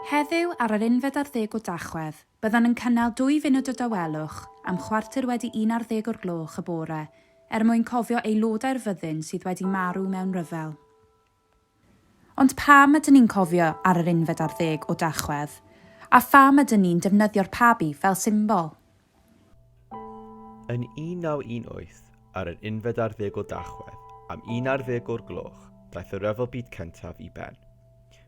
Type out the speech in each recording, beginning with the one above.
Heddiw, ar yr unfed ar ddeg o Dachwedd, byddwn yn cynnal dwy funud o dawelwch am chwarter wedi un ar ddeg o'r gloch y bore er mwyn cofio aelodau'r fyddin sydd wedi marw mewn rhyfel. Ond pam ydyn ni'n cofio ar yr unfed ar ddeg o Dachwedd? A pham ydyn ni'n defnyddio'r pabi fel symbol? Yn 1918, ar yr unfed ar ddeg o Dachwedd, am un ar ddeg o'r gloch, daeth y Rhyfel Byd Cyntaf i ben.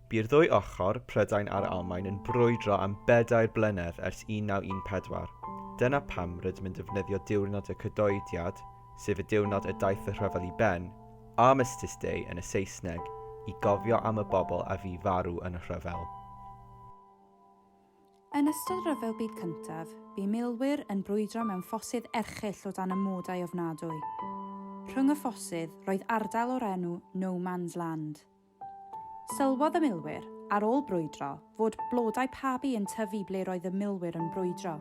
Bu'r ddwy ochr, Prydain a'r Almaen, yn brwydro am bedair blynedd ers 1914. Dyna pam rydym yn defnyddio Diwrnod y Cydoediad, sef y diwrnod y daeth y rhyfel i ben, Armistice Day yn y Saesneg, i gofio am y bobl a fu farw yn y rhyfel. Yn ystod Rhyfel Byd Cyntaf, bu milwyr yn brwydro mewn ffosydd erchyll o dan amodau ofnadwy. Rhwng y ffosydd, roedd ardal o'r enw No Man's Land. Sylwodd y milwyr, ar ôl brwydro, fod blodau pabi yn tyfu ble roedd y milwyr yn brwydro.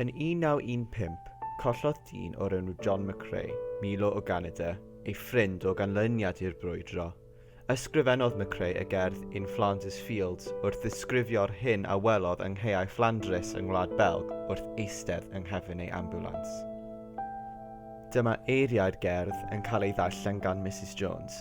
Yn 1915, collodd dyn o'r enw John McCrae, Milo o Ganada, ei ffrind o ganlyniad i'r brwydro. Ysgrifennodd McCrae y gerdd In Flanders Fields wrth ddisgrifio'r hyn a welodd yng nghaeau Fflandrys yng Ngwlad Belg wrth eistedd yng nghefn ei ambiwlans. Dyma eiriau'r gerdd yn cael ei ddarllen gan Misus Jones.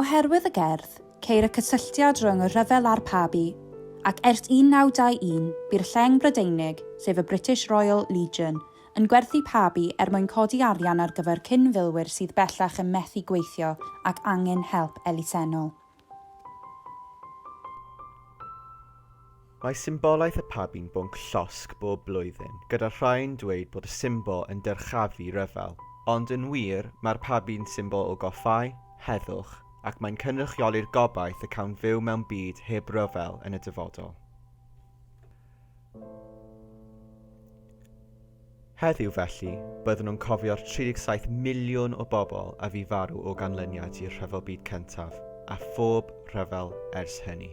Oherwydd y gerdd, ceir y cysylltiad rhwng y rhyfel a'r Pabi, ac ers 1921, bu'r lleng Brydeinig, sef y British Royal Legion, yn gwerthu Pabi er mwyn codi arian ar gyfer cyn-filwyr sydd bellach yn methu gweithio ac angen help elusennol. Mae symbolaeth y pabi'n bwnc llosg bob blwyddyn, gyda rhai'n dweud bod y symbol yn dyrchafu rhyfel. Ond yn wir, mae'r pabi'n symbol o goffáu, heddwch, ac mae'n cynrychioli'r gobaith y cawn fyw mewn byd heb ryfel yn y dyfodol. Heddiw felly, byddwn yn cofio'r 37 miliwn o bobl a fu farw o ganlyniad i'r Rhyfel Byd Cyntaf, a phob rhyfel ers hynny.